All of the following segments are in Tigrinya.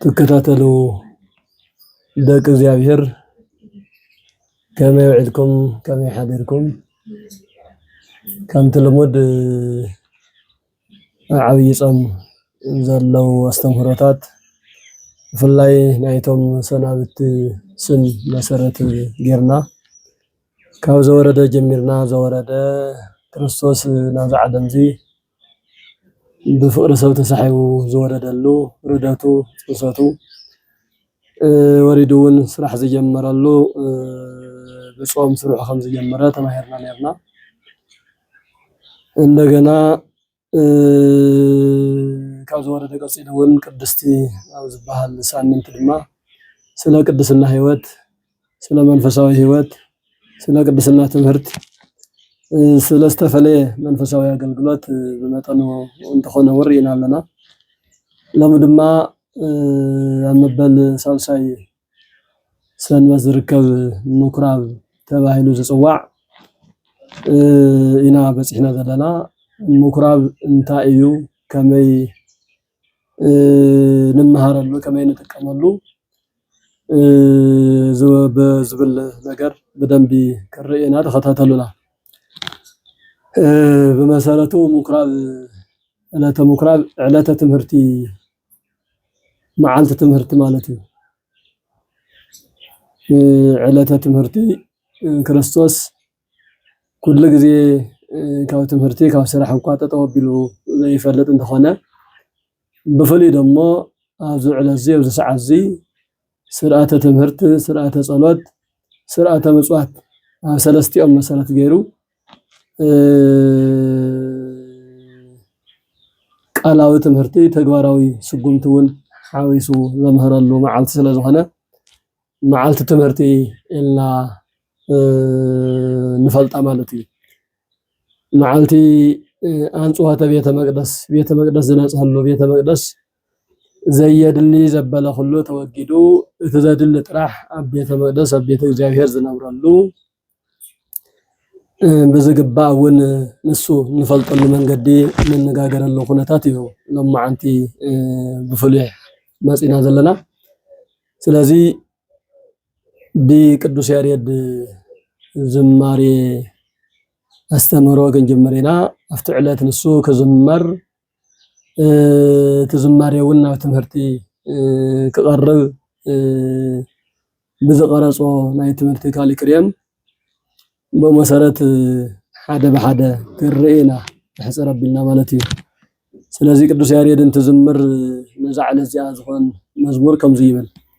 ትከታተሉ ደቂ እግዚኣብሔር ከመይ ውዒልኩም ከመይ ሓዲርኩም ከምቲ ልሙድ ኣብ ዓብይ ፆም ዘለው ኣስተምህሮታት ብፍላይ ናይቶም ሰናብቲ ስም መሰረት ጌርና ካብ ዘወረደ ጀሚርና ዘወረደ ክርስቶስ ናብዚ ዓለም እዚ ብፍቕሪ ሰብ ተሳሒቡ ዝወረደሉ ርደቱ ፅንሰቱ ወሪዱ እውን ስራሕ ዝጀመረሉ ብፆም ስርሑ ከም ዝጀመረ ተማሂርና ኔርና። እንደገና ካብ ዝወረደ ቀፂሉ እውን ቅድስቲ ኣብ ዝባሃል ሳምንት ድማ ስለ ቅድስና ህይወት ስለ መንፈሳዊ ሕይወት፣ ስለ ቅድስና ትምህርት፣ ስለ ዝተፈለየ መንፈሳዊ ኣገልግሎት ብመጠኑ እንተኾነ እውን ርኢና ኣለና። ሎሚ ድማ ኣብ መበል ሳልሳይ ሰንበት ዝርከብ ምኩራብ ተባሂሉ ዝፅዋዕ ኢና በፂሕና ዘለና። ምኩራብ እንታይ እዩ? ከመይ ንመሃረሉ ከመይ ንጥቀመሉ ዝብል ነገር ብደንቢ ክርኣየና ተኸታተሉና። ብመሰረቱ ምኩራብ ዕለተ ምኩራብ ዕለተ ትምህርቲ መዓልቲ ትምህርቲ ማለት እዩ። ዕለተ ትምህርቲ ክርስቶስ ኩሉ ግዜ ካብ ትምህርቲ ካብ ስራሕ እኳ ጠጠው ኣቢሉ ዘይፈልጥ እንተኾነ ብፍሉይ ደሞ ኣብዚ ዕለት እዚ ኣብዚ ሰዓት እዚ ስርዓተ ትምህርቲ ስርዓተ ፀሎት ስርዓተ ምፅዋት ኣብ ሰለስቲኦም መሰረት ገይሩ ቃላዊ ትምህርቲ ተግባራዊ ስጉምቲ እውን ሓዊሱ ዘምህረሉ መዓልቲ ስለዝኾነ መዓልቲ ትምህርቲ ኢልና ንፈልጣ ማለት እዩ። መዓልቲ ኣንጽሖተ ቤተ መቅደስ ቤተ መቅደስ ዝነጽሀሉ ቤተ መቅደስ ዘየድሊ ዘበለ ኩሉ ተወጊዱ እቲ ዘድሊ ጥራሕ ኣብ ቤተ መቅደስ ኣብ ቤተ እግዚኣብሔር ዝነብረሉ ብዝግባእ እውን ንሱ ንፈልጠሉ መንገዲ ንነጋገረሉ ኩነታት እዩ ሎማዓንቲ ብፍሉይ መፂና ዘለና። ስለዚ ብቅዱስ ያሬድ ዝማሬ ኣስተምህሮ ክንጅምር ኢና። ኣብቲ ዕለት ንሱ ክዝመር እቲ ዝማሬ እውን ናብ ትምህርቲ ክቐርብ ብዝቐረፆ ናይ ትምህርቲ ካሊክሬም ብመሰረት ሓደ ብሓደ ክንርኢ ኢና ሕፅር ኣቢልና ማለት እዩ። ስለዚ ቅዱስ ያሬድ እንትዝምር ነዛ ዕለት እዚኣ ዝኮን መዝሙር ከምዚ ይብል።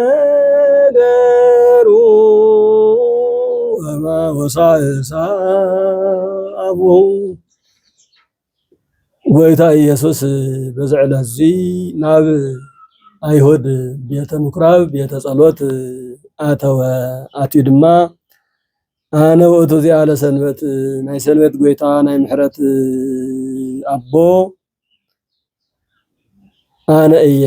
ነገሩ ወሳእሳ ኣብኡ ጎይታ ኢየሱስ በዚ ዕለት እዚ ናብ ኣይሁድ ቤተ ምኩራብ ቤተ ጸሎት ኣተወ ኣትዩ ድማ ኣነ ውእቱ እዚኣ ለሰንበት ናይ ሰንበት ጎይታ ናይ ምሕረት ኣቦ ኣነ እየ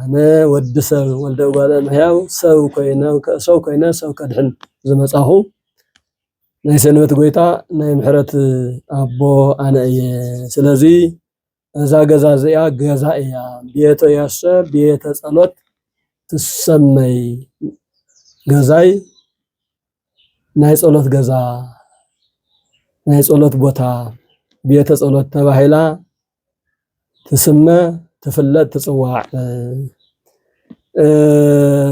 ኣነ ወዲ ሰብ ወልደ እጓለ እመሕያው ሰብ ኮይነ ሰው ኮይነ ሰብ ከድሕን ዝመፃኹ ናይ ሰንበት ጎይታ ናይ ምሕረት ኣቦ ኣነ እየ። ስለዚ እዛ ገዛ እዚኣ ገዛ እያ ቤተ ያሰ ቤተ ጸሎት ትሰመይ ገዛይ ናይ ጸሎት ገዛ፣ ናይ ጸሎት ቦታ፣ ቤተ ጸሎት ተባሂላ ትስመ፣ ትፍለጥ፣ ትጽዋዕ።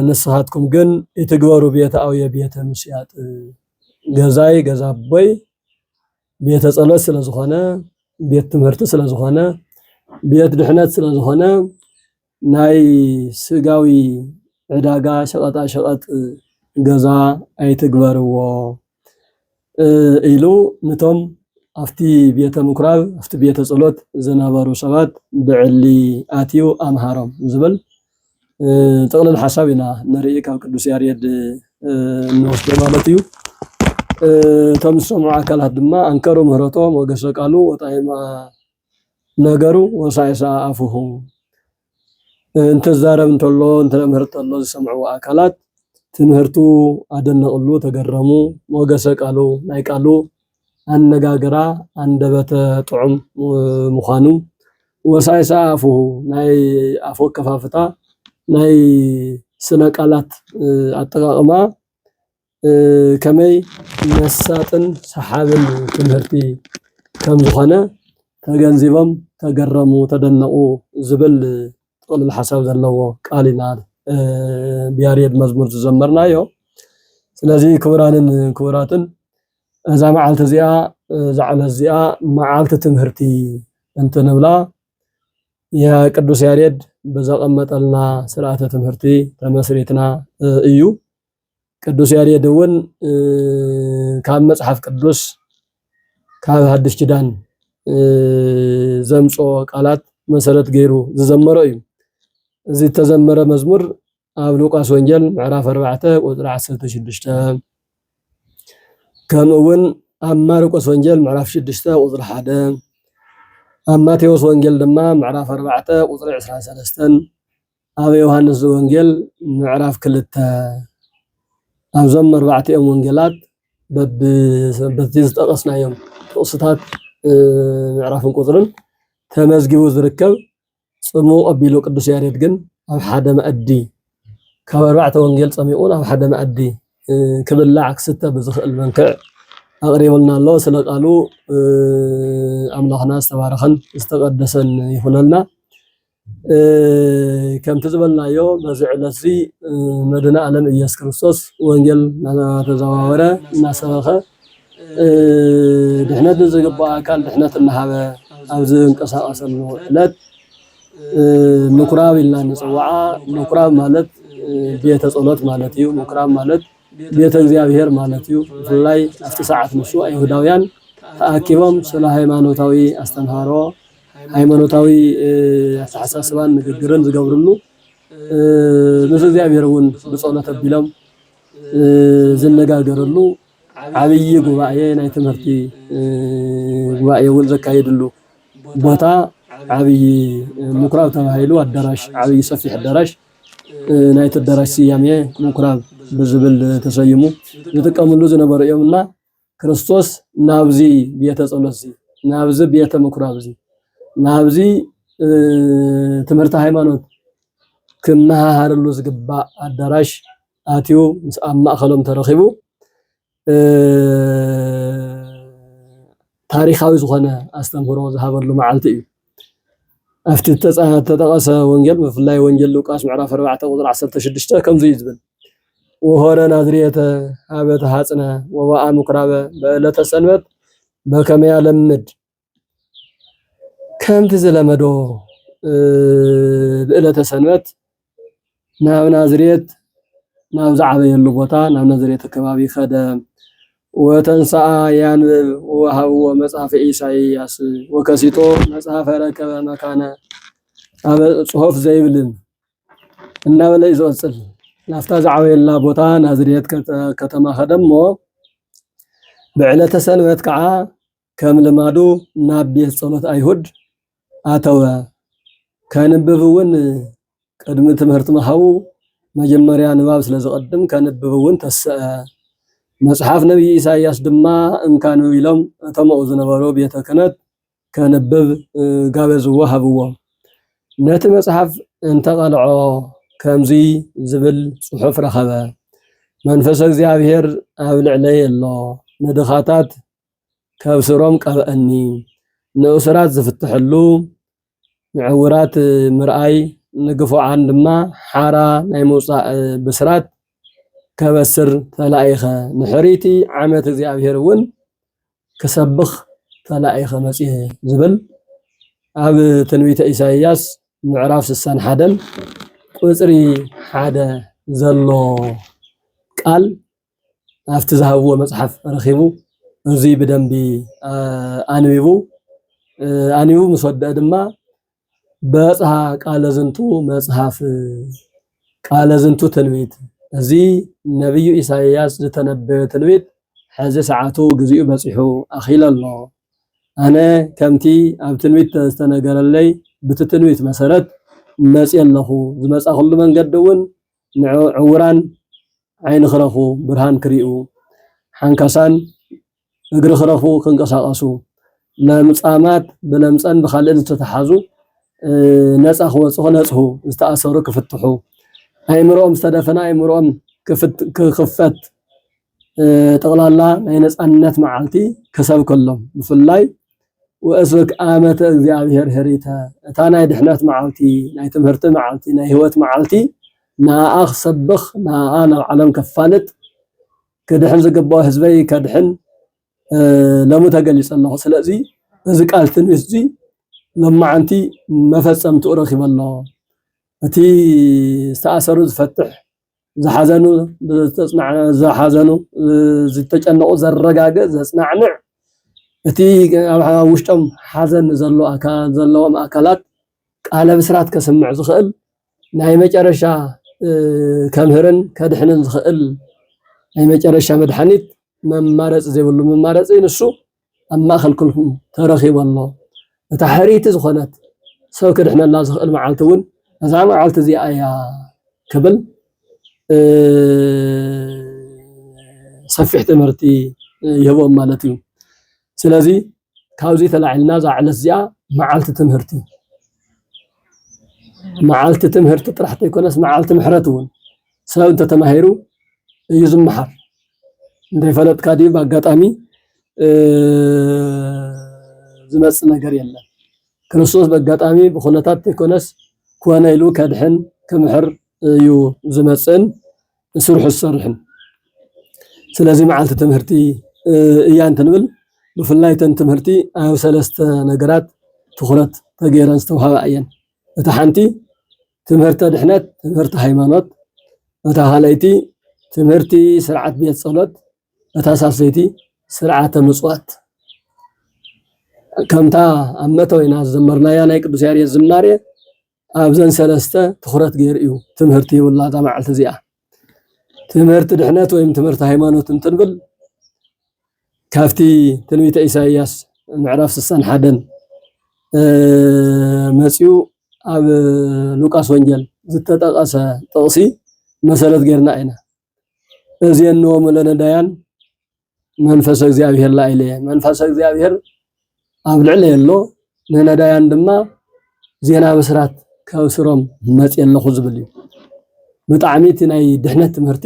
ንስኻትኩም ግን ይትግበሩ ቤተ ኣውየ ቤተ ምስያጥ ገዛይ ገዛ ኣቦይ ቤተ ጸሎት ስለ ዝኾነ ቤት ትምህርቲ ስለ ዝኾነ ቤት ድሕነት ስለ ዝኾነ ናይ ስጋዊ ዕዳጋ ሸቐጣሸቐጥ ገዛ ኣይትግበርዎ ኢሉ ነቶም ኣብቲ ቤተ ምኵራብ ኣብቲ ቤተ ጸሎት ዝነበሩ ሰባት ብዕሊ ኣትዩ ኣምሃሮም ዝብል ጥቕልል ሓሳብ ኢና ንርኢ ካብ ቅዱስ ያሬድ እንወስዶ ማለት እዩ። እቶም ዝሰምዑ ኣካላት ድማ ኣንከሩ ምህረቶ ሞገሰ ቃሉ ወጣይማ ነገሩ ወሳኢ ሰኣ ኣፉሁ እንትዛረብ እንተሎ እንትምህር እንተሎ ዝሰምዕዎ ኣካላት ትምህርቱ ኣደነቅሉ ተገረሙ ሞገሰ ቃሉ ናይ ቃሉ ኣነጋግራ ኣንደበተ ጥዑም ምዃኑ ወሳኢ ሰኣ ኣፉሁ ናይ ኣፉ ኣከፋፍታ ናይ ስነ ቃላት ኣጠቃቅማ ከመይ መሳጥን ሰሓብን ትምህርቲ ከም ዝኾነ ተገንዚቦም ተገረሙ ተደነቑ ዝብል ጥቕልል ሓሳብ ዘለዎ ቃል ኢና ብያሬድ መዝሙር ዝዘመርናዮ። ስለዚ ክቡራንን ክቡራትን እዛ መዓልቲ እዚኣ እዛ ዕለት እዚኣ መዓልቲ ትምህርቲ እንትንብላ የቅዱስ ያሬድ ብዘቐመጠልና ስርዓተ ትምህርቲ ተመስሪትና እዩ። ቅዱስ ያሬድ እውን ካብ መጽሓፍ ቅዱስ ካብ ሓድሽ ኪዳን ዘምጽኦ ቃላት መሰረት ገይሩ ዝዘመሮ እዩ እዚ እተዘመረ መዝሙር ኣብ ሉቃስ ወንጌል ምዕራፍ 4 ቁፅሪ 16 ከምኡ እውን ኣብ ማርቆስ ወንጌል ምዕራፍ 6 ቁፅሪ 1 ኣብ ማቴዎስ ወንጌል ድማ ምዕራፍ 4 ቁፅሪ 23 ኣብ ዮሃንስ ዘወንጌል ምዕራፍ ክልተ ኣብዞም መርባዕቲኦም ወንጌላት በቲ ዝጠቐስናዮም ጥቕስታት ምዕራፍን ቁፅርን ተመዝጊቡ ዝርከብ ፅሙቕ ኣቢሉ ቅዱስ ያሬድ ግን ኣብ ሓደ መኣዲ ካብ ኣርባዕተ ወንጌል ፀሚቑን ኣብ ሓደ መኣዲ ክብላዕ ክስተ ብዝኽእል መንክዕ ኣቕሪቡልና ኣሎ። ስለ ቃሉ ኣምላኽና ዝተባረኸን ዝተቐደሰን ይኹነልና። ከምቲ ዝበልናዮ በዚ ዕለት እዚ መድህነ ኣለም እየሱስ ክርስቶስ ወንጌል እናተዘዋወረ እናሰበኸ ድሕነት ንዝግባእ ኣካል ድሕነት እናሃበ ኣብ ዝንቀሳቀሰሉ ዕለት ምኩራብ ኢልና ንፅዋዓ ምኩራብ ማለት ቤተ ጸሎት ማለት እዩ ምኩራብ ማለት ቤተ እግዚኣብሔር ማለት እዩ ብፍላይ ኣብቲ ሰዓት ንሱ ኣይሁዳውያን ተኣኪቦም ስለ ሃይማኖታዊ ኣስተምህሮ ሃይማኖታዊ ኣተሓሳስባን ንግግርን ዝገብርሉ ምስ እግዚኣብሔር እውን ብጸሎት ኣቢሎም ዝነጋገርሉ ዓብዪ ጉባኤ ናይ ትምህርቲ ጉባኤ እውን ዘካይድሉ ቦታ ዓብዪ ምኩራብ ተባሂሉ ኣዳራሽ ዓብዪ ሰፊሕ ኣዳራሽ ናይቲ ኣዳራሽ ስያሜ ምኩራብ ብዝብል ተሰይሙ ዝጥቀምሉ ዝነበሩ እዮም እና ክርስቶስ ናብዚ ቤተ ጸሎትዚ ናብዚ ቤተ ምኩራብዚ ናብዚ ትምህርቲ ሃይማኖት ክመሃሃረሉ ዝግባእ ኣዳራሽ ኣትዩ ምስ ኣብ ማእኸሎም ተረኺቡ ታሪኻዊ ዝኾነ ኣስተምህሮ ዝሃበሉ መዓልቲ እዩ። ኣብቲ እተጠቐሰ ወንጌል ብፍላይ ወንጌል ሉቃስ ምዕራፍ ኣርባዕተ ቁጽሪ ዓሰርተ ሽዱሽተ ከምዚ እዩ ዝብል ወሆረ ናዝሬተ ሀበ ተሐጽነ ወበአ ምኵራበ በዕለተ ሰንበት በከመ ያለምድ ከምቲ ዝለመዶ ብዕለተ ሰንበት ናብ ናዝሬት ናብ ዝዓበየሉ ቦታ ናብ ናዝሬት ከባቢ ከደ። ወተንሥኣ ያንብብ ወወሃብዎ መጽሐፈ ኢሳይያስ ወከሲቶ መጽሐፈ ረከበ መካነ ኣበ ጽሑፍ ዘይብልን እናበለ እዩ ዝቕጽል። ናብታ ዝዓበየላ ቦታ ናዝሬት ከተማ ከደሞ ብዕለተ ሰንበት ከዓ ከም ልማዱ ናብ ቤት ጸሎት ኣይሁድ ኣተወ። ከንብብ እውን ቅድሚ ትምህርቲ ምሃቡ መጀመርያ ንባብ ስለ ዝቐድም ከንብብ እውን ተሰኣ። መጽሓፍ ነቢይ ኢሳይያስ ድማ እንካ ኣንብብ ኢሎም እቶም ኣብኡ ዝነበሩ ቤተ ክህነት ከንብብ ጋበዝዎ ሃብዎ። ነቲ መጽሓፍ እንተቐልዖ ከምዚ ዝብል ጽሑፍ ረኸበ። መንፈስ እግዚኣብሔር ኣብ ልዕለይ ኣሎ፣ ንድኻታት ካብ ሱሮም ቀብኣኒ ንእሱራት ዝፍትሕሉ ንዕውራት ምርኣይ ንግፉዓን ድማ ሓራ ናይ ምውጻእ ብስራት ከበስር ተላኢኸ ንሕርይቲ ዓመት እግዚኣብሔር እውን ክሰብኽ ተላኢኸ መጽየ ዝብል ኣብ ትንቢተ ኢሳይያስ ምዕራፍ ስሳን ሓደን ቁጽሪ ሓደ ዘሎ ቃል ኣብቲ ዝሃብዎ መፅሓፍ ረኺቡ እዙይ ብደንቢ ኣንቢቡ ኣንቢቡ ምስ ወደአ ድማ በፅሃ ቃለ ዝንቱ መፅሓፍ ቃለ ዝንቱ ትንቢት እዚ ነቢዩ ኢሳይያስ ዝተነበዮ ትንቢት ሕዚ ሰዓቱ ግዚኡ በፂሑ ኣኺለ ኣሎ ኣነ ከምቲ ኣብ ትንቢት ዝተነገረለይ ብቲ ትንቢት መሰረት መፅየ ኣለኹ ዝመፃኹሉ መንገዲ እውን ንዕውራን ዓይኒ ክረኽቡ፣ ብርሃን ክሪኡ፣ ሓንካሳን እግሪ ክረኽቡ፣ ክንቀሳቐሱ፣ ለምጻማት ብለምጸን ብኻልእን ዝተተሓዙ ነጻ ክወጹ፣ ክነጽሁ፣ ዝተኣሰሩ ክፍትሑ፣ ኣእምሮኦም ዝተደፈነ ኣእምሮኦም ክኽፈት ጠቕላላ ናይ ነጻነት መዓልቲ ክሰብከሎም ብፍላይ ወእስበክ ኣመተ እግዚኣብሔር ኅሪተ እታ ናይ ድኅነት መዓልቲ ናይ ትምህርቲ መዓልቲ ናይ ሕይወት መዓልቲ ንኣኣ ክሰብኽ ንኣኣ ናብ ዓለም ከፋልጥ ክድኅን ዝግብኦ ሕዝበይ ከድኅን ለሙ ተገሊጸ ኣለኹ ስለዚ እዚ ቃል ትንቢት እዚ ሎማዓንቲ መፈጸምትኡ ረኺበ ኣሎ እቲ ዝተኣሰሩ ዝፈትሕ ዝሓዘኑ ዝሓዘኑ ዝተጨነቑ ዘረጋግእ ዘፅናዕንዕ እቲ ኣብ ውሽጦም ሓዘን ዘሎ ዘለዎም ኣካላት ቃለ ብስራት ከስምዕ ዝኽእል ናይ መጨረሻ ከምህርን ከድሕንን ዝኽእል ናይ መጨረሻ መድሓኒት መማረፂ ዘይብሉ መማረፂ ንሱ ኣብ ማእከል ኩልኩም ተረኺቡ ኣሎ። እታ ሕርይቲ ዝኾነት ሰብ ክድሕነላ ዝኽእል መዓልቲ እውን እዛ መዓልቲ እዚኣ እያ ክብል ሰፊሕ ትምህርቲ ይህቦም ማለት እዩ። ስለዚ ካብዚ ተላዒልና እዛ ዕለት እዚኣ መዓልቲ ትምህርቲ መዓልቲ ትምህርቲ ጥራሕ ዘይኮነስ መዓልቲ ምሕረት እውን ሰብ እንተተማሂሩ እዩ ዝመሓር። እንደይፈለጥካ ድዩ ብኣጋጣሚ ዝመፅ ነገር የለን። ክርስቶስ በጋጣሚ ብኹነታት ዘይኮነስ ኮነ ኢሉ ከድሕን ክምሕር እዩ ዝመፅእን ስርሑ ዝሰርሕን። ስለዚ መዓልቲ ትምህርቲ እያ እንትንብል ብፍላይ ተን ትምህርቲ ኣብ ሰለስተ ነገራት ትኹረት ተገይረን ዝተውሃባ እየን። እቲ ሓንቲ ትምህርተ ድሕነት፣ ትምህርተ ሃይማኖት፣ እታ ካልኣይቲ ትምህርቲ ስርዓት ቤት ጸሎት፣ እታ ሳልሰይቲ ስርዓተ ምጽዋት ከምታ ኣብ መተወና ዝዘመርናያ ናይ ቅዱስ ያሬድ ዝማሬ ኣብዘን ሰለስተ ትኹረት ገይሩ እዩ ትምህርቲ ይብላ እዛ መዓልቲ እዚኣ ትምህርቲ ድሕነት ወይም ትምህርቲ ሃይማኖት እንትንብል ካብቲ ትንቢተ ኢሳይያስ ምዕራፍ ስሳን ሓደን መፂኡ ኣብ ሉቃስ ወንጌል ዝተጠቐሰ ጥቕሲ መሰረት ጌርና ኢና እዝየንዎሙ ለነዳያን መንፈሰ እግዚኣብሔር ላዕለ መንፈሰ እግዚኣብሔር ኣብ ልዕለ የሎ ንነዳያን ድማ ዜና ብስራት ከብስሮም መፅ ኣለኹ ዝብል እዩ ብጣዕሚ እቲ ናይ ድሕነት ትምህርቲ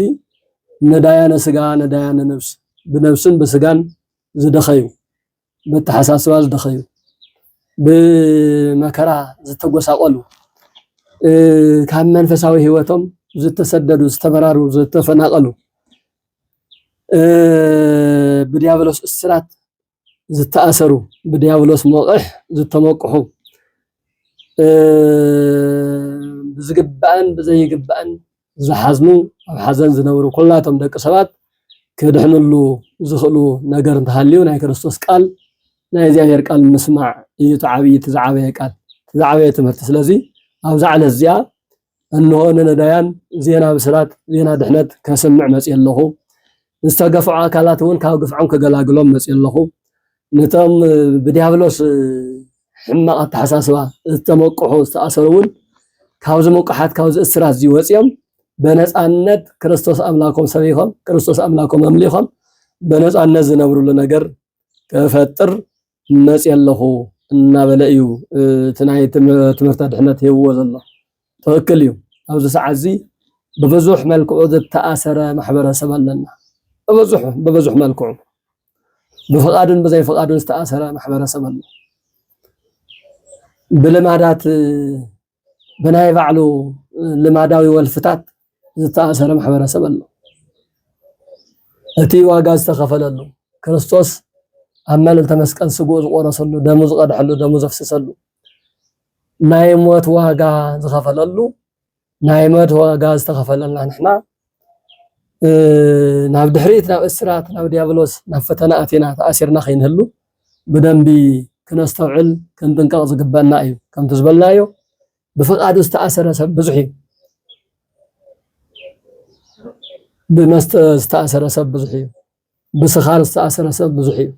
ነዳያነ ስጋ ነዳያነ ነብስ ብነብስን ብስጋን ዝደኸዩ በተሓሳስባ ዝደኸዩ ብመከራ ዝተጎሳቆሉ ካብ መንፈሳዊ ህይወቶም ዝተሰደዱ፣ ዝተበራሩ፣ ዝተፈናቀሉ ብዲያብሎስ እስራት ዝተኣሰሩ፣ ብዲያብሎስ ሞቕሕ ዝተሞቅሑ ብዝግባእን ብዘይግባእን ዝሓዝኑ ኣብ ሓዘን ዝነብሩ ኩላቶም ደቂ ሰባት ክድሕንሉ ዝኽእሉ ነገር እንተሃልዩ ናይ ክርስቶስ ቃል ናይ እግዚኣብሔር ቃል ምስማዕ እዩ እቲ ዓብዪ እቲ ዝዓበየ ቃል እቲ ዝዓበየ ትምህርቲ ስለዚ ኣብዚ ዕለት እዚኣ እንሆ ንነዳያን ዜና ብስራት ዜና ድሕነት ከስምዕ መፅየ ኣለኹ ዝተገፍዑ ኣካላት እውን ካብ ግፍዖም ከገላግሎም መፂኡ ኣለኹ። ነቶም ብዲያብሎስ ሕማቕ ኣተሓሳስባ ዝተመቅሑ ዝተኣሰሩ እውን ካብዚ ምቁሓት ካብዚ እስራት እዚ ወፂኦም በነፃነት ክርስቶስ ኣምላኮም ሰቢኾም ክርስቶስ ኣምላኮም ኣምሊኾም በነፃነት ዝነብርሉ ነገር ክፈጥር መፅየ ኣለኹ እናበለ እዩ እቲ ናይ ትምህርቲ ኣድሕነት ሂብዎ ዘሎ ትኽክል እዩ ኣብዚ ሰዓት እዚ ብብዙሕ መልክዑ ዝተኣሰረ ማሕበረሰብ ኣለና ብብዙሕ ብብዙሕ መልክዑ ብፍቓድን ብዘይፍቓድን ዝተኣሰረ ማሕበረሰብ ኣሎ ብልማዳት ብናይ ባዕሉ ልማዳዊ ወልፍታት ዝተኣሰረ ማሕበረሰብ ኣሎ። እቲ ዋጋ ዝተኸፈለሉ ክርስቶስ ኣብ መልዕልተ መስቀል ስግኡ ዝቆረሰሉ ደሙ ዝቐድሐሉ ደሙ ዘፍስሰሉ ናይ ሞት ዋጋ ዝኸፈለሉ ናይ ሞት ዋጋ ዝተኸፈለልና ንሕና ናብ ድሕሪት ናብ እስራት ናብ ዲያብሎስ ናብ ፈተና ኣቲና ተኣሲርና ከይንህሉ ብደንቢ ክነስተውዕል ክንጥንቀቕ ዝግበእና እዩ። ከምቲ ዝበልናዮ ብፍቓዱ ዝተኣሰረ ሰብ ብዙሕ እዩ። ብመስተ ዝተኣሰረ ሰብ ብዙሕ እዩ። ብስኻር ዝተኣሰረ ሰብ ብዙሕ እዩ።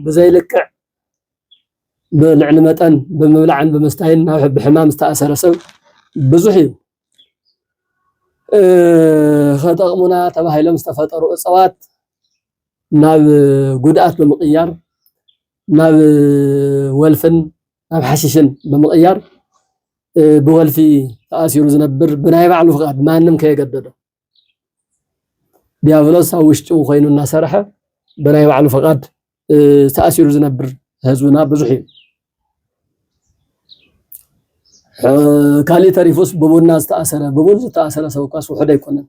ብዘይልክዕ ብልዕሊ መጠን ብምብላዕን ብምስታይን ናብ ብሕማም ዝተኣሰረ ሰብ ብዙሕ እዩ። ኸጠቕሙና ተባሂሎም ዝተፈጠሩ እፅዋት ናብ ጉድኣት ብምቕያር ናብ ወልፍን ናብ ሓሽሽን ብምቕያር ብወልፊ ተኣሲሩ ዝነብር ብናይ ባዕሉ ፍቓድ ማንም ከየገደዶ ዲያብሎስ ኣብ ውሽጡ ኮይኑ እናሰርሐ ብናይ ባዕሉ ፈቃድ ተኣሲሩ ዝነብር ህዝብና ብዙሕ እዩ ካሊእ ተሪፉስ ብቡና ዝተኣሰረ ብቡን ዝተኣሰረ ሰብ እኳስ ውሑድ ኣይኮነን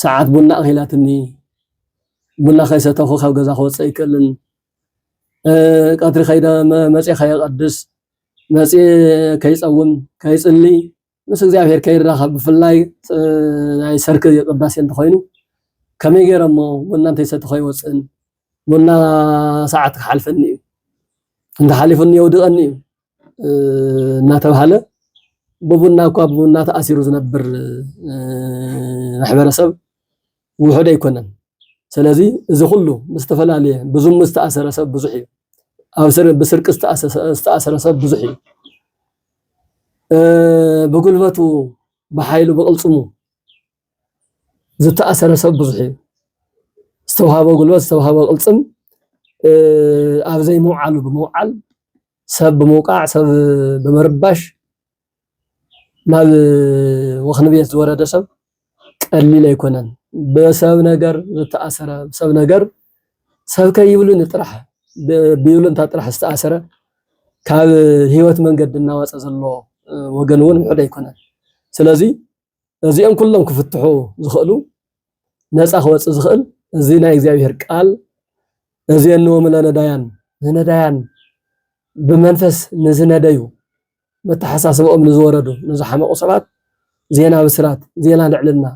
ሰዓት ቡና ኣኺላትኒ ቡና ከይሰተኹ ካብ ገዛ ክወፅእ ኣይክእልን ቀትሪ ከይደ መፅየ ከየቀድስ መፅየ ከይፀውም ከይፅሊ ምስ እግዚኣብሔር ከይራኸብ ብፍላይ ናይ ሰርክ ቅዳሴ እንተኾይኑ ከመይ ገይረ እሞ ቡና እንተይሰቲ ከይወፅእን ቡና ሰዓት ክሓልፈኒ እዩ እንተሓሊፉኒ የውድቐኒ እዩ እናተባሃለ ብቡና እኳ ብቡና ተኣሲሩ ዝነብር ማሕበረሰብ ውሑድ ኣይኮነን። ሰለዚ እዚ ኩሉ ምስ ተፈላልየ ብዙሙ ዝተኣሰረ ሰብ ብዙሕ እዩ። ኣብ ብስርቂ ዝተኣሰረ ሰብ ብዙሕ እዩ። ብጉልበቱ ብሓይሉ ብቕልጽሙ ዝተኣሰረ ሰብ ብዙሕ እዩ። ዝተውሃቦ ጉልበት ዝተውሃቦ ቅልፅም ኣብ ዘይምውዓሉ ብምውዓል ሰብ ብምውቃዕ ሰብ ብምርባሽ ናብ ወኽኒ ቤት ዝወረደ ሰብ ቀሊል ኣይኮነን። ብሰብ ነገር ዝተኣሰረ ሰብ ነገር ሰብ ከይብሉኒ ጥራሕ ብይሉንታ ጥራሕ ዝተኣሰረ ካብ ህይወት መንገዲ እናወፀ ዘሎ ወገን እውን ውሑድ ኣይኮነን። ስለዙይ እዚኦም ኩሎም ክፍትሑ ዝኽእሉ ነፃ ክወፅእ ዝኽእል እዚ ናይ እግዚኣብሔር ቃል እዜንዎም ለነዳያን ንነዳያን ብመንፈስ ንዝነደዩ መተሓሳስበኦም ንዝወረዱ ንዝሓመቑ ሰባት ዜና ብስራት፣ ዜና ልዕልና፣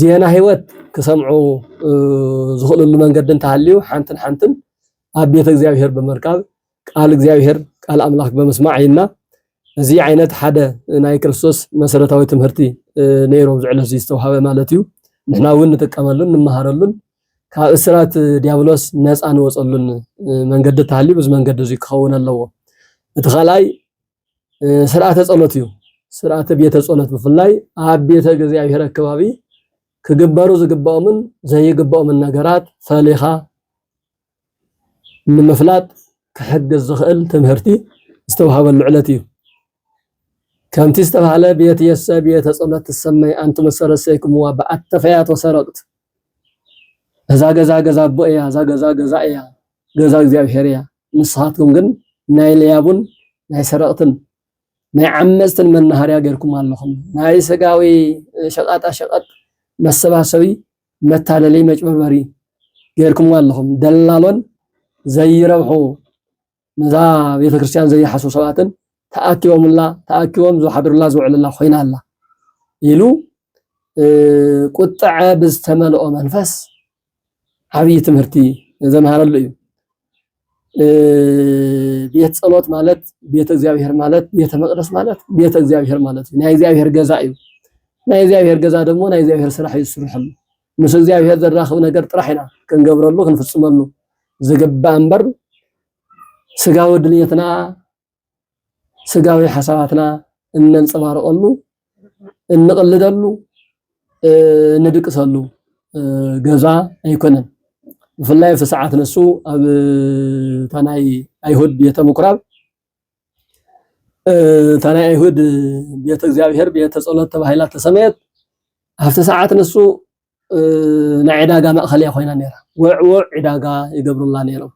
ዜና ህይወት ክሰምዑ ዝኽእልሉ መንገዲ እንተሃልዩ ሓንትን ሓንትን ኣብ ቤተ እግዚኣብሔር ብምርካብ ቃል እግዚኣብሔር ቃል ኣምላክ ብምስማዕ ኢልና እዚ ዓይነት ሓደ ናይ ክርስቶስ መሰረታዊ ትምህርቲ ነይሩ ኣብዚ ዕለት ዝተውሃበ ማለት እዩ ንሕና እውን ንጥቀመሉን ንመሃረሉን ካብ እስራት ዲያብሎስ ነፃ ንወፀሉን መንገዲ ተሃልዩ ብዚ መንገዲ እዚ ክኸውን ኣለዎ እቲ ካልኣይ ስርዓተ ፀሎት እዩ ስርዓተ ቤተ ፀሎት ብፍላይ ኣብ ቤተ እግዚኣብሔር ኣከባቢ ክግበሩ ዝግባኦምን ዘይግባኦምን ነገራት ፈሊኻ ንምፍላጥ ክሕግዝ ዝኽእል ትምህርቲ ዝተውሃበሉ ዕለት እዩ። ከምቲ ዝተባህለ ቤት የሰ ቤተ ጸሎት ትሰመይ ኣንቱ መሰረሰይክምዋ ብኣተፈያት ወሰረቅት እዛ ገዛ ገዛ ኣቦ እያ እዛ ገዛ ገዛ እያ ገዛ እግዚኣብሔር እያ ንስኻትኩም ግን ናይ ለያቡን ናይ ሰረቅትን ናይ ዓመፅትን መናሃርያ ጌርኩም ኣለኹም ናይ ስጋዊ ሸቃጣ ሸቀጥ መሰባሰቢ መታለሊ መጭበርበሪ ጌርኩምዋ ኣለኹም ደላሎን ዘይረብሑ ነዛ ቤተክርስትያን ዘይሓስቡ ሰባትን ተኣኪቦምላ ተኣኪቦም ዝሓድሩላ ዝውዕሉላ ኮይና ኣላ ኢሉ ቁጥዐ ብዝተመልኦ መንፈስ ዓብዪ ትምህርቲ ዘምሃረሉ እዩ ቤት ጸሎት ማለት ቤተ እግዚኣብሔር ማለት ቤተ መቅደስ ማለት ቤተ እግዚኣብሔር ማለት እዩ ናይ እግዚኣብሔር ገዛ እዩ ናይ እግዚኣብሔር ገዛ ደግሞ ናይ እግዚኣብሔር ስራሕ እዩ ዝስርሐሉ ምስ እግዚኣብሔር ዘራኽብ ነገር ጥራሕ ኢና ክንገብረሉ ክንፍጽመሉ ዝግባእ እምበር ስጋዊ ድልየትና ስጋዊ ሓሳባትና እነንፀባርቐሉ፣ እንቕልደሉ፣ እንድቅሰሉ ገዛ ኣይኮነን። ብፍላይ ኣብቲ ሰዓት ንሱ ኣብ እታ ናይ ኣይሁድ ቤተ ምኩራብ እታ ናይ ኣይሁድ ቤተ እግዚኣብሔር ቤተ ጸሎት ተባሂላ ተሰመየት። ኣብቲ ሰዓት ንሱ ናይ ዕዳጋ ማእኸል እያ ኮይና ነይራ። ወዕወዕ ዕዳጋ ይገብሩላ ነይሮም።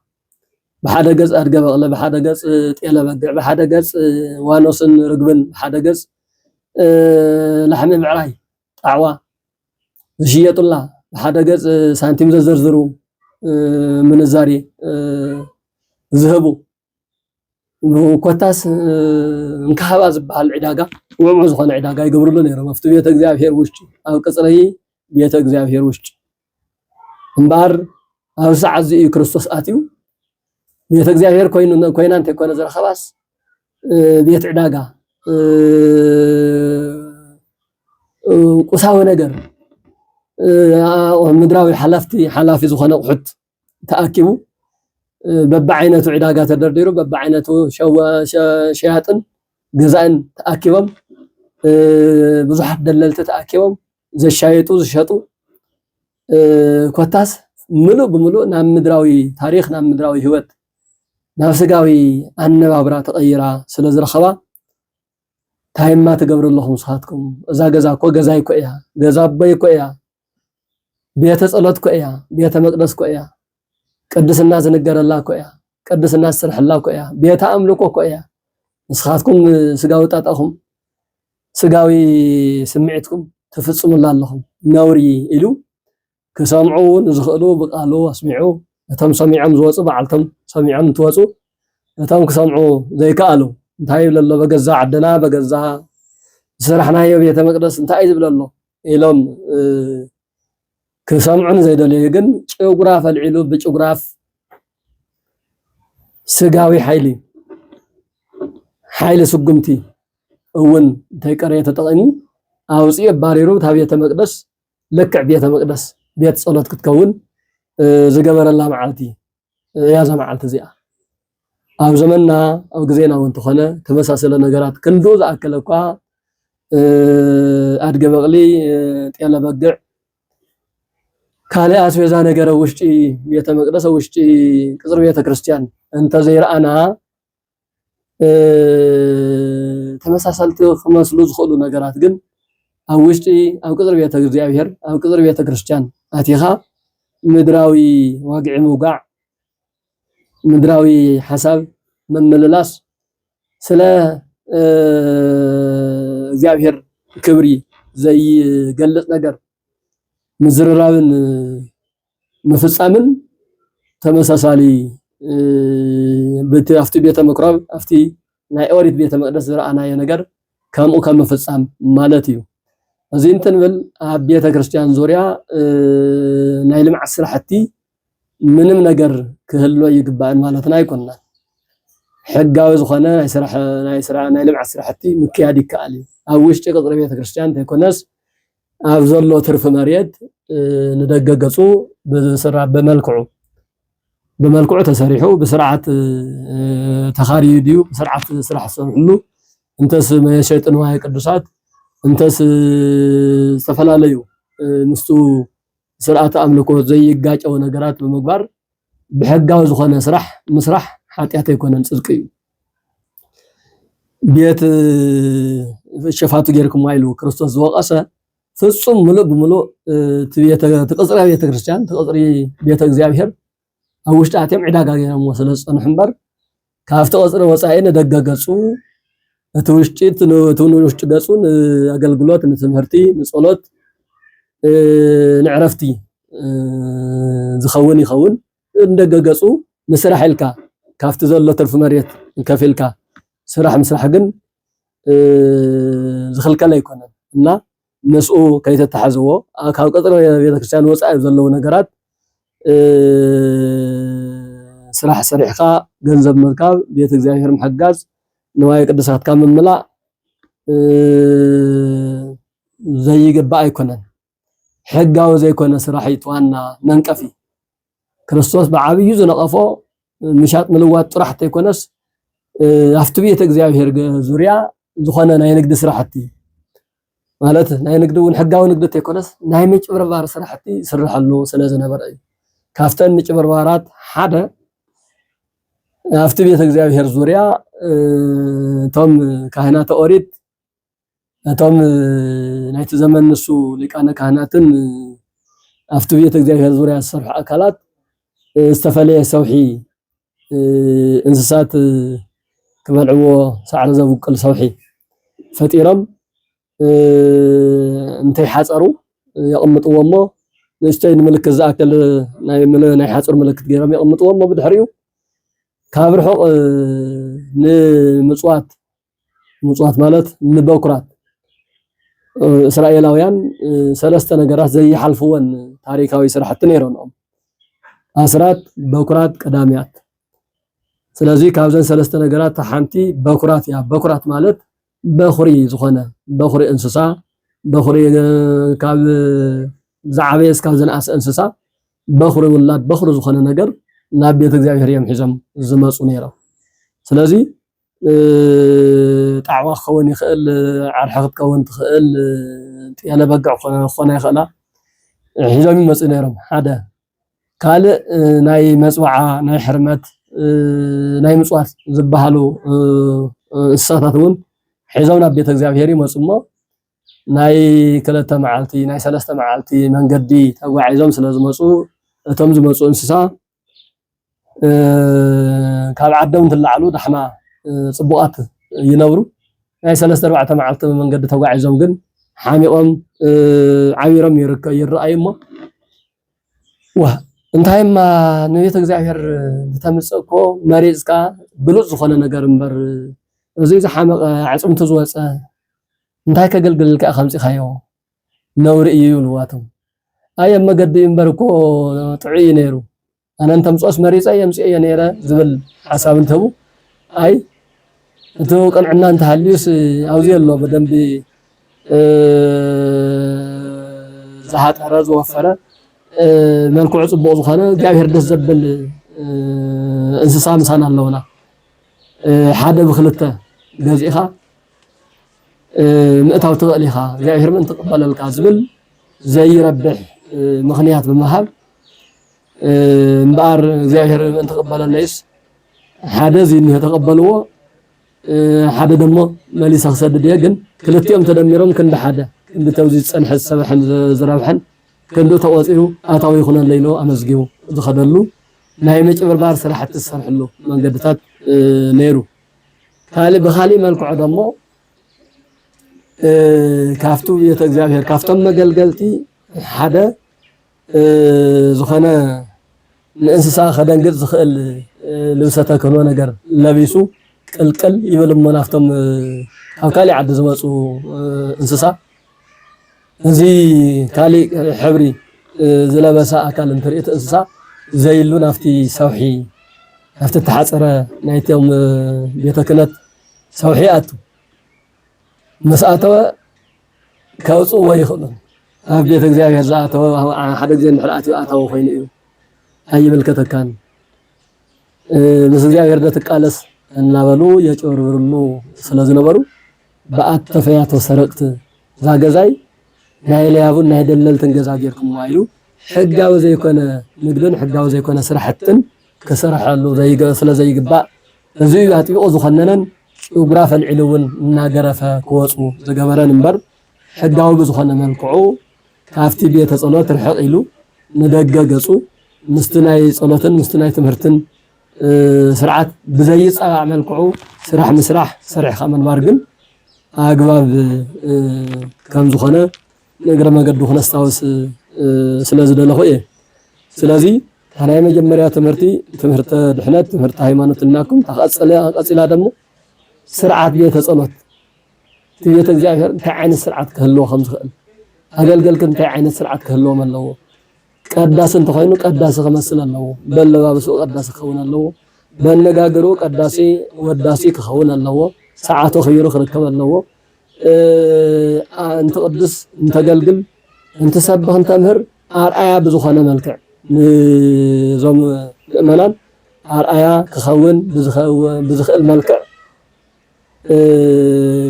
ብሓደ ገፅ ኣድገ በቕለ፣ ብሓደ ገፅ ጤለ በግዕ፣ ብሓደ ገፅ ዋኖስን ርግብን፣ ብሓደ ገፅ ላሕሚ ምዕራይ ጣዕዋ ዝሽየጡላ፣ ብሓደ ገፅ ሳንቲም ዘዘርዝሩ ምንዛሬ ዝህቡ ኮታስ እንካሃባ ዝበሃል ዕዳጋ ውዕሙ ዝኾነ ዕዳጋ ይገብርሉ ነይሮም ኣብቲ ቤተ እግዚኣብሔር ውሽጢ ኣብ ቅፅሪ ቤተ እግዚኣብሔር ውሽጢ እምበኣር ኣብ ሰዓት እዚ እዩ ክርስቶስ ኣትዩ ቤተ እግዚኣብሔር ኮይኑ ኮይና እንተይኮነ ዝረኸባስ ቤት ዕዳጋ ቁሳዊ ነገር ምድራዊ ሓላፍቲ ሓላፊ ዝኾነ ኣቑሑት ተኣኪቡ በብዓይነቱ ዕዳጋ ተደርዲሩ በብዓይነቱ ሸያጥን ገዛእን ተኣኪቦም ብዙሓት ደለልቲ ተኣኪቦም ዘሻየጡ ዝሸጡ ኮታስ ምሉእ ብምሉእ ናብ ምድራዊ ታሪክ ናብ ምድራዊ ህይወት ናብ ስጋዊ ኣነባብራ ተቐይራ ስለ ዝረኸባ ታይማ ትገብሩ ኣለኹም ንስኻትኩም እዛ ገዛ እኮ ገዛይ እኮ እያ ገዛ ኣቦይ እኮ እያ ቤተ ጸሎት እኮ እያ፣ ቤተ መቅደስ እኮ እያ፣ ቅድስና ዝንገረላ እኮ እያ፣ ቅድስና ዝስርሐላ እኮ እያ፣ ቤተ ኣምልኮ እኮ እያ። ንስኻትኩም ስጋዊ ጣጣኹም ስጋዊ ስምዒትኩም ትፍጽሙላ ኣለኹም ነውሪ ኢሉ ክሰምዑ ንዝኽእሉ ብቃሉ ኣስሚዑ እቶም ሰሚዖም ዝወፁ በዓልቶም ሰሚዖም እንትወፁ እቶም ክሰምዑ ዘይከኣሉ እንታይ ይብለ ኣሎ በገዛ ዓድና በገዛ ዝሰራሕናዮ ቤተ መቅደስ እንታይ እዩ ዝብለ ኣሎ ኢሎም ክሰምዑ ንዘይደለዩ ግን ጭጉራ ፈልዒሉ ብጭጉራፍ ስጋዊ ሓይሊ ሓይሊ ስጉምቲ እውን እንተይቀረየ ተጠቒሙ ኣውፅኡ ኣባሪሩ እታ ቤተ መቅደስ ልክዕ ቤተ መቅደስ ቤት ፀሎት ክትከውን ዝገበረላ መዓልቲ እያ እዛ መዓልቲ እዚኣ። ኣብ ዘመንና ኣብ ግዜና እውን ተኾነ ተመሳሰለ ነገራት ክንዱ ዝኣከለ እኳ ኣድገ በቕሊ፣ ጤለ በግዕ፣ ካልእ ኣስቤዛ ነገረ ውሽጢ ቤተ መቅደስ ውሽጢ ቅጽሪ ቤተ ክርስቲያን እንተዘይረኣና ተመሳሰልቲ ክመስሉ ዝኽእሉ ነገራት ግን ኣብ ውሽጢ ኣብ ቅፅሪ ቤተ እግዚኣብሔር ኣብ ቅፅሪ ቤተ ክርስቲያን ኣቲኻ ምድራዊ ዋግዒ ምውጋዕ ምድራዊ ሓሳብ ምምልላስ ስለ እግዚኣብሔር ክብሪ ዘይገልፅ ነገር ምዝርራብን ምፍጻምን ተመሳሳሊ ብቲ ኣብቲ ቤተ ምኩራብ ኣብቲ ናይ ኦሪት ቤተ መቅደስ ዝረኣናዮ ነገር ከምኡ ከም ምፍጻም ማለት እዩ እዚ እንትንብል ኣብ ቤተ ክርስቲያን ዙሪያ ናይ ልምዓት ስራሕቲ ምንም ነገር ክህሎ ይግባእን ማለትና ኣይኮንናን ሕጋዊ ዝኾነ ናይ ስራሕ ናይ ስራሕ ናይ ልምዓት ስራሕቲ ምክያድ ይከኣል እዩ ኣብ ውሽጢ ቅፅሪ ቤተ ክርስቲያን እንተይኮነስ ኣብ ዘሎ ትርፊ መሬት ንደገ ገጹ ብስራ ብመልክዑ ብመልክዑ ተሰሪሑ ብስርዓት ተኻሪዩ ድዩ ብስርዓት ስራሕ ዝሰርሕሉ እንተስ መሸጢ ንዋየ ቅዱሳት እንተስ ዝተፈላለዩ ምስቱ ስርዓተ ኣምልኮ ዘይጋጨው ነገራት ብምግባር ብሕጋዊ ዝኾነ ስራሕ ምስራሕ ሓጢኣት ኣይኮነን ፅድቂ እዩ። ቤት ሸፋቱ ጌርክሞ ኢሉ ክርስቶስ ዝወቀሰ ፍጹም ምሉእ ብምሉእ እቲ ቅጽሪ ቤተክርስትያን እቲ ቅጽሪ ቤተ እግዚኣብሔር ኣብ ውሽጢ ኣትዮም ዕዳጋ ገይሮምዎ ስለ ዝፀንሑ እምበር ካብቲ ቐፅሪ ወፃኢ ንደገ ገፁ እቲ ውሽጢ እቲ ንውሽጢ ገፁ ንኣገልግሎት፣ ንትምህርቲ፣ ንፀሎት፣ ንዕረፍቲ ዝኸውን ይኸውን። ንደገ ገፁ ንስራሕ ኢልካ ካብቲ ዘሎ ትርፊ መሬት ከፊልካ ስራሕ ምስራሕ ግን ዝኽልከል ኣይኮነን እና ምስኡ ከይተታሕዝዎ ካብ ቅፅረ ቤተክርስትያን ወፃኢ ዘለዉ ነገራት ስራሕ ሰሪሕኻ ገንዘብ ምርካብ፣ ቤተ እግዚኣብሔር ምሕጋዝ፣ ንዋየ ቅድሳትካ ምምላእ ዘይግባእ ኣይኮነን። ሕጋዊ ዘይኮነ ስራሕ እዩ እቲ ዋና መንቀፊ። ክርስቶስ ብዓብዩ ዝነቐፎ ምሻጥ ምልዋጥ ጥራሕ ተይኮነስ ኣብቲ ቤተ እግዚኣብሔር ዙርያ ዝኾነ ናይ ንግዲ ስራሕቲ ማለት ናይ ንግዲ እውን ሕጋዊ ንግዲ ተይኮነስ ናይ ምጭብርባር ስራሕቲ ይስርሐሉ ስለ ዝነበረ እዩ ካብተን ምጭብርባራት ሓደ ኣብቲ ቤተ እግዚኣብሔር ዙርያ እቶም ካህናተ ኦሪት ነቶም ናይቲ ዘመን ንሱ ሊቃነ ካህናትን ኣብቲ ቤተ እግዚኣብሔር ዙሪያ ዝሰርሑ ኣካላት ዝተፈለየ ሰውሒ እንስሳት ክበልዕዎ ሳዕሪ ዘብቅል ሰውሒ ፈጢሮም እንተይሓፀሩ የቕምጥዎ እሞ ንእሽተይ ንምልክት ዝኣክል ናይ ሓፁር ምልክት ገይሮም የቕምጥዎ እሞ ብድሕሪኡ ካብ ርሑቕ ንምፅዋት ምጽዋት ማለት ንበኩራት እስራኤላውያን ሰለስተ ነገራት ዘይሓልፍወን ታሪካዊ ስራሕቲ ነይረንኦም ኣስራት፣ በኩራት፣ ቀዳምያት። ስለዚ ካብዘን ሰለስተ ነገራት ሓንቲ በኩራት እያ። በኩራት ማለት በኩሪ ዝኾነ በኩሪ እንስሳ በኩሪ ካብ ዝዓበየ እስካብ ዝነኣሰ እንስሳ በኩሪ ውላድ በኩሪ ዝኾነ ነገር ናብ ቤተ እግዚኣብሔር እዮም ሒዞም ዝመፁ ነይሮም። ስለዚ ጣዕዋ ክኸውን ይኽእል፣ ዓርሒ ክትከውን ትኽእል፣ ጤለ በግዕ ክኾና ይኽእላ ሒዞም ይመጹ ነይሮም ሓደ ካልእ ናይ መፅዋዓ ናይ ሕርመት ናይ ምፅዋት ዝበሃሉ እንስሳታት እውን ሒዞም ናብ ቤተ እግዚኣብሔር ይመፁ እሞ ናይ ክልተ መዓልቲ ናይ ሰለስተ መዓልቲ መንገዲ ተጓዒዞም ስለ ዝመፁ እቶም ዝመፁ እንስሳ ካብ ዓዶም እንትለዓሉ ዳሕማ ፅቡቓት ይነብሩ። ናይ ሰለስተ ኣርባዕተ መዓልቲ መንገዲ ተጓዒዞም ግን ሓሚቖም ዓቢሮም ይረኣዩ እሞ ዋህ እንታይ እማ ንቤተ እግዚኣብሔር ዝተምፅእ እኮ መሪፅካ ብሉፅ ዝኾነ ነገር እምበር እዚ ዝሓመቐ ኣዕፅምቱ ዝወፀ እንታይ ከገልግልልካ ከምፂኻዮ ነውሪ እዩ ይብልዋቶም ኣይ ኣብ መገዲ እምበር እኮ ጥዑይ እዩ ነይሩ ኣነ እንተምፅኦስ መሪፀ የምፅኤዮ ነይረ ዝብል ሓሳብ እንትህቡ ኣይ እቲ ቅንዕና እንተሃልዩስ ኣብዚ ኣሎ ብደንቢ ዝሃጠረ ዝወፈረ መልክዑ ፅቡቕ ዝኾነ እግዚኣብሔር ደስ ዘብል እንስሳ ምሳና ኣለውና ሓደ ብክልተ ገዚእኻ ምእታው ትኽእል ኢኻ እግዚኣብሔር ምእንቲ ክቕበለልካ ዝብል ዘይረብሕ ምኽንያት ብምሃብ እምበኣር እግዚኣብሔር ምእንቲ ክቕበለለይስ ሓደ እዚ እኒሆ ተቐበልዎ ሓደ ደሞ መሊሰ ክሰድድ እየ ግን ክልቲኦም ተደሚሮም ክንዲ ሓደ ክንዲ ተብዚ ዝፀንሐ ዝሰበሐን ዝረብሐን ክንዲ ተቆፂሩ ኣታዊ ይኹነለ ኢሉ ኣመዝጊቡ ዝኸደሉ ናይ ምጭብርባር ስራሕቲ ዝሰርሕሉ መንገድታት ነይሩ ካልእ ብኻልእ መልክዑ ደሞ ካብቲ ቤተ እግዚኣብሔር ካብቶም መገልገልቲ ሓደ ዝኾነ ንእንስሳ ከደንግጥ ዝኽእል ልብሰ ተክህኖ ነገር ለቢሱ ቅልቅል ይብል እሞ ናብቶም ካብ ካልእ ዓዲ ዝመፁ እንስሳ እዚ ካሊእ ሕብሪ ዝለበሰ ኣካል እንትርኢ እቲ እንስሳ ዘይሉ ናብቲ ሰውሒ ናብቲ ተሓፀረ ናይቶም ቤተ ክህነት ሰውሒ ኣቱ ምስ ኣተወ ከውፅዎ ይኽእሉን ኣብ ቤተ እግዚኣብሔር ዝኣተወ ሓደ ግዜ እንድሕር ኣትዩ ኣታዊ ኮይኑ እዩ ኣይምልከተካን ምስ እግዚኣብሔር ደትቃለስ እናበሉ የጭበርብርሉ ስለዝነበሩ ብኣት ተፈያቶ ሰረቅት እዛ ገዛይ ናይ ለያቡን ናይ ደለልትን ገዛ ጌርኩምዋ ኢሉ ሕጋዊ ዘይኮነ ንግድን ሕጋዊ ዘይኮነ ስራሕትን ክስርሐሉ ስለዘይግባእ እዚ እዩ ኣጥቢቑ ዝኾነነን ጭጉራፍ ኣልዒሉ እውን እናገረፈ ክወፁ ዝገበረን እምበር ሕጋዊ ብዝኾነ መልክዑ ካብቲ ቤተ ጸሎት ርሕቕ ኢሉ ንደገ ገጹ ምስቲ ናይ ጸሎትን ምስቲ ናይ ትምህርትን ስርዓት ብዘይፃባእ መልክዑ ስራሕ ምስራሕ ሰሪሕኻ ምንባር ግን ኣግባብ ከምዝኾነ ንእግረ መገዱ ክነስታውስ ስለዝደለኹ እየ። ስለዚ እታ ናይ መጀመርያ ትምህርቲ ትምህርተ ድሕነት ትምህርተ ሃይማኖት እናኩም ተቐፅለ ቀፂላ ደሞ ስርዓት ቤተ ጸሎት እቲ ቤተ እግዚኣብሔር እንታይ ዓይነት ስርዓት ክህልዎ ከም ዝኽእል ኣገልገልክ እንታይ ዓይነት ስርዓት ክህልዎም ኣለዎ ቀዳሲ እንተኾይኑ ቀዳሲ ክመስል ኣለዎ፣ በኣለባብስኡ ቀዳሲ ክኸውን ኣለዎ፣ በኣነጋግርኡ ቀዳሲ ወዳሲ ክኸውን ኣለዎ፣ ሰዓቱ ኣኽቢሩ ክርከብ ኣለዎ፣ እንትቕድስ እንተገልግል እንትሰብኽ እንተምህር ኣርኣያ ብዝኾነ መልክዕ ንዞም ምእመናን ኣርኣያ ክኸውን ብዝኽእል መልክዕ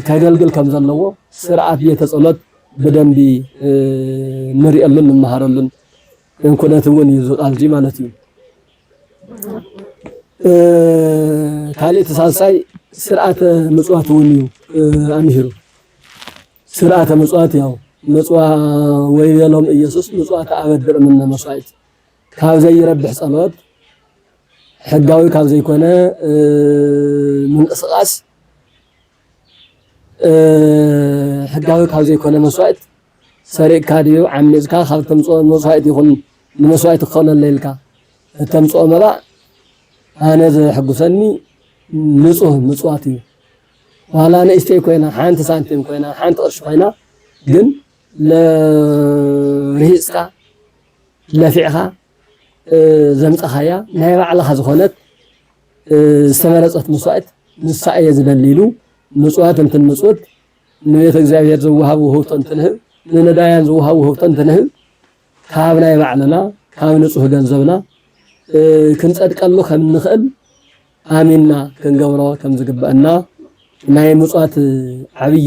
ከገልግል ከም ዘለዎ ስርዓት ቤተ ጸሎት ብደንቢ ንርእየሉን ንመሃረሉን ኩነት እውን እዩ እዚ ቃል እዚ ማለት እዩ። ካልእ እቲ ሳልሳይ ስርዓተ ምጽዋት እውን እዩ ኣምሂሩ። ስርዓተ ምጽዋት ያው ምጽዋ ወይቤሎም ኢየሱስ ምጽዋት ኣበድር እምነ መስዋዕት ካብ ዘይረብሕ ጸሎት ሕጋዊ ካብ ዘይኮነ ምንቅስቓስ ሕጋዊ ካብ ዘይኮነ መስዋእት ሰሪቕካ ድዩ ዓሚፅካ ካብ ተምፅኦ መስዋእት ይኹን ንመስዋእት ክኾነለ ኢልካ እተምፅኦ መባ ኣነ ዘሕጉሰኒ ንፁህ ምፅዋት እዩ ዋላ ንእሽተይ ኮይና ሓንቲ ሳንቲም ኮይና ሓንቲ ቅርሺ ኮይና ግን ርሂፅካ ለፊዕኻ ዘምጻኻያ ናይ ባዕልኻ ዝኾነት ዝተመረጸት መስዋእት ንሳ እየ ዝበል ኢሉ ምጽዋት እንትንምጽውት ንቤተ እግዚኣብሔር ዝወሃብ ውህብቶ እንትንህብ ንነዳያን ዝወሃብ ውህብቶ እንትንህብ ካብ ናይ ባዕልና ካብ ንጹህ ገንዘብና ክንጸድቀሉ ከም እንኽእል ኣሚንና ክንገብሮ ከም ዝግበአና ናይ ምጽዋት ዓብዪ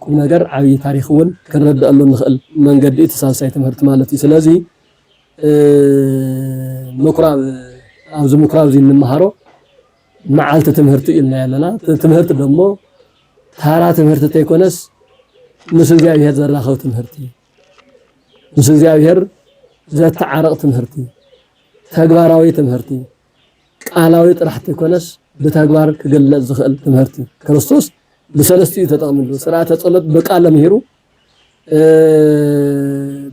ቁም ነገር ዓብዪ ታሪክ እውን ክንረድአሉ ንኽእል መንገዲ እቲ ሳልሳይ ትምህርቲ ማለት እዩ ስለዚ ምኩራብ ኣብዚ ምኩራብ እዚ እንመሃሮ መዓልቲ ትምህርቲ እዩ ኢልና ኣለና። ትምህርቲ ደግሞ ታራ ትምህርቲ እንተይኮነስ ምስ እግዚኣብሔር ዘራኸብ ትምህርቲ እዩ። ምስ እግዚኣብሔር ዘተዓርቕ ትምህርቲ፣ ተግባራዊ ትምህርቲ፣ ቃላዊ ጥራሕ እንተይኮነስ ብተግባር ክግለጽ ዝኽእል ትምህርቲ ክርስቶስ ብሰለስቲኡ ተጠቕምሉ ስርዓተ ጸሎት ብቃል ለምሂሩ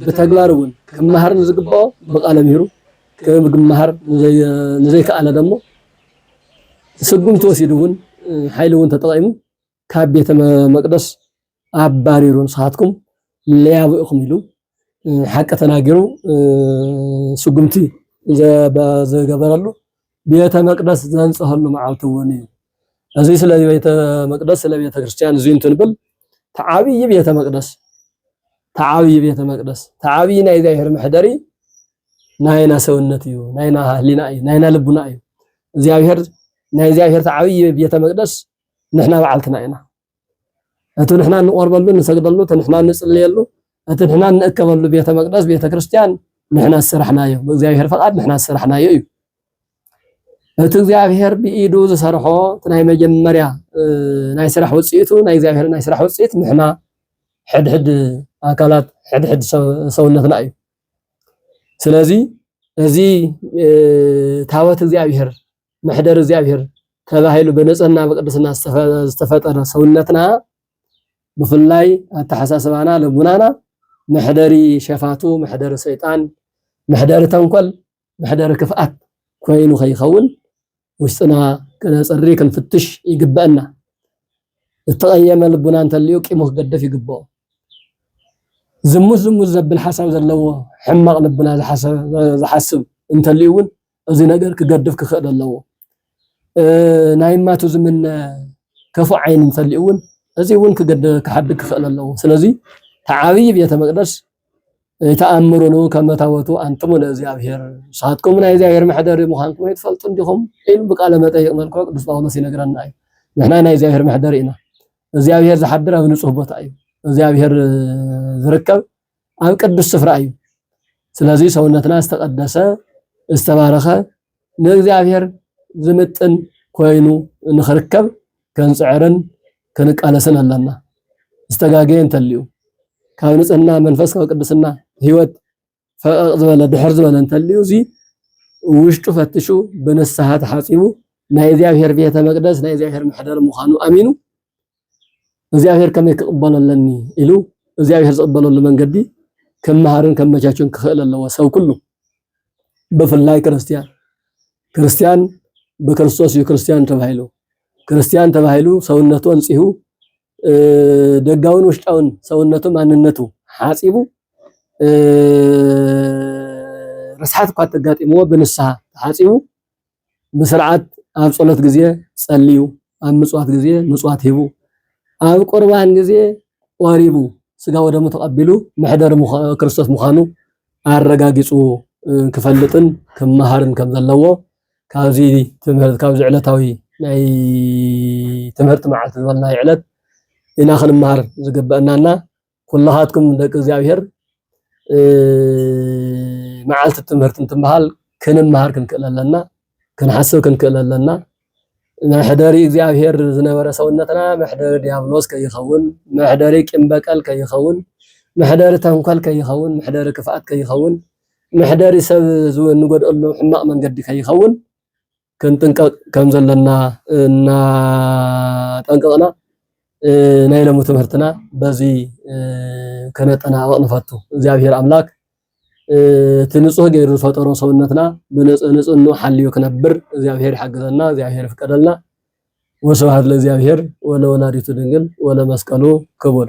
ብተግባር እውን ክመሃር ንዝግብኦ ብቃለ ምሂሩ ክመሃር ንዘይከኣለ ደሞ ስጉምቲ ወሲዱ እውን ሓይሊ እውን ተጠቂሙ ካብ ቤተ መቅደስ ኣባሪሩ ንስኻትኩም ለያቡ ኢኹም ኢሉ ሓቂ ተናጊሩ ስጉምቲ ዝገበረሉ ቤተ መቅደስ ዘንጽሀሉ መዓልቲ እውን እዩ። እዚ ስለ ቤተ መቅደስ ስለ ቤተ ክርስቲያን እዚ እንትንብል ተዓብይ ቤተ መቅደስ ተዓብይ ቤተ መቅደስ ተዓብይ ናይ እግዚኣብሔር መሕደሪ ናይና ሰውነት እዩ፣ ናይና ህሊና እዩ፣ ናይና ልቡና እዩ። እግዚኣብሔር ናይ እግዚኣብሔር ተዓብይ ቤተ መቅደስ ንሕና በዓልትና ኢና። እቲ ንሕና እንቆርበሉ እንሰግደሉ እቲ ንሕና እንጽልየሉ እቲ ንሕና እንእከበሉ ቤተ መቅደስ ቤተ ክርስቲያን ንሕና ዝሰራሕናዮ ብእግዚኣብሔር ፈቃድ ንሕና ዝሰራሕናዮ እዩ እቲ እግዚኣብሔር ብኢዱ ዝሰርሖ እቲ ናይ መጀመርያ ናይ ስራሕ ውፅኢቱ ናይ እግዚኣብሔር ናይ ስራሕ ውፅኢት ንሕና ሕድሕድ ኣካላት ሕድሕድ ሰውነትና እዩ ስለዚ እዚ ታወት እግዚኣብሔር መሕደር እግዚኣብሔር ተባሂሉ ብንጽህና ብቅድስና ዝተፈጠረ ሰውነትና ብፍላይ ኣተሓሳስባና ልቡናና መሕደሪ ሸፋቱ መሕደሪ ሰይጣን መሕደሪ ተንኮል መሕደሪ ክፍኣት ኮይኑ ከይኸውን ውሽጥና ክነፅሪ ክንፍትሽ ይግበአና ዝተቐየመ ልቡና እንተልዩ ቂሙ ክገደፍ ይግብኦ ዝሙት ዝሙት ዘብል ሓሳብ ዘለዎ ሕማቕ ልቡና ዝሓስብ እንተልዩ እውን እዚ ነገር ክገድፍ ክኽእል ኣለዎ። ናይ ማቱ ዝምነ ከፉእ ዓይኒ እንተልዩ እውን እዚ እውን ክሓድግ ክኽእል ኣለዎ። ስለዚ እቲ ዓብዪ ቤተ መቅደስ ተኣምሩኑ ከመ ታቦቱ ኣንትሙ ለእግዚኣብሔር ንስኻትኩም ናይ እግዚኣብሔር መሕደሪ ምዃንኩም ኣይትፈልጡ እንዲኹም ኢሉ ብቃለ መጠይቅ መልክዑ ቅዱስ ጳውሎስ ይነግረና እዩ። ንሕና ናይ እግዚኣብሔር መሕደሪ ኢና። እግዚኣብሔር ዝሓድር ኣብ ንጹህ ቦታ እዩ። እግዚኣብሔር ዝርከብ ኣብ ቅዱስ ስፍራ እዩ። ስለዚ ሰውነትና ዝተቀደሰ ዝተባረኸ ንእግዚኣብሔር ዝምጥን ኮይኑ ንኽርከብ ክንፅዕርን ክንቃለስን ኣለና። ዝተጋገየ እንተልዩ ካብ ንፅህና መንፈስ ካብ ቅድስና ህይወት ፈቀቅ ዝበለ ድሕር ዝበለ እንተልዩ እዚ ውሽጡ ፈትሹ ብንስሓ ተሓፂቡ ናይ እግዚኣብሔር ቤተ መቅደስ ናይ እግዚኣብሔር መሕደር ምዃኑ ኣሚኑ እግዚኣብሔር ከመይ ክቕበሎ ኣለኒ ኢሉ እግዚኣብሔር ዝቕበለሉ መንገዲ ከመሃርን ከመቻችን ክኽእል ኣለዎ ሰብ ኩሉ ብፍላይ ክርስቲያን ክርስቲያን ብክርስቶስ እዩ ክርስቲያን ተባሂሉ ክርስቲያን ተባሂሉ ሰውነቱ ኣንፂሁ ደጋውን ውሽጣውን ሰውነቱ ማንነቱ ሓፂቡ ርስሓት እኳ ተጋጢምዎ ብንስሓ ተሓፂቡ ብስርዓት ኣብ ጸሎት ግዜ ጸልዩ፣ ኣብ ምጽዋት ግዜ ምጽዋት ሂቡ፣ ኣብ ቁርባን ግዜ ቆሪቡ ስጋ ወደሙ ተቐቢሉ መሕደሪ ክርስቶስ ምዃኑ ኣረጋጊጹ ክፈልጥን ክመሃርን ከም ዘለዎ ካብዚ ትምህርት ካብዚ ዕለታዊ ናይ ትምህርቲ መዓልቲ ዝበልናዮ ዕለት ኢና ክንመሃር ዝግበአናና ኩላኻትኩም ደቂ እግዚኣብሔር መዓልቲ ትምህርቲ እንትበሃል ክንመሃር ክንክእል ኣለና፣ ክንሓስብ ክንክእል ኣለና። መሕደሪ እግዚኣብሔር ዝነበረ ሰውነትና መሕደሪ ዲያብሎስ ከይኸውን፣ መሕደሪ ቂም በቀል ከይኸውን፣ መሕደሪ ተንኮል ከይኸውን፣ መሕደሪ ክፍኣት ከይኸውን፣ መሕደሪ ሰብ ንጎድኣሉ ሕማቕ መንገዲ ከይኸውን ክንጥንቀቕ ከም ዘለና እናጠንቀቕና ናይ ሎሚ ትምህርትና በዚ ከነጠናቕቕ ንፈቱ። እግዚኣብሔር ኣምላክ እቲ ንጹህ ገይሩ ዝፈጠሮ ሰውነትና ንጽህኑ ሓልዩ ክነብር እግዚኣብሔር ይሓግዘና፣ እግዚኣብሔር ይፍቀደልና። ወስብሐት ለእግዚኣብሔር ወለወላዲቱ ድንግል ወለመስቀሉ ክቡር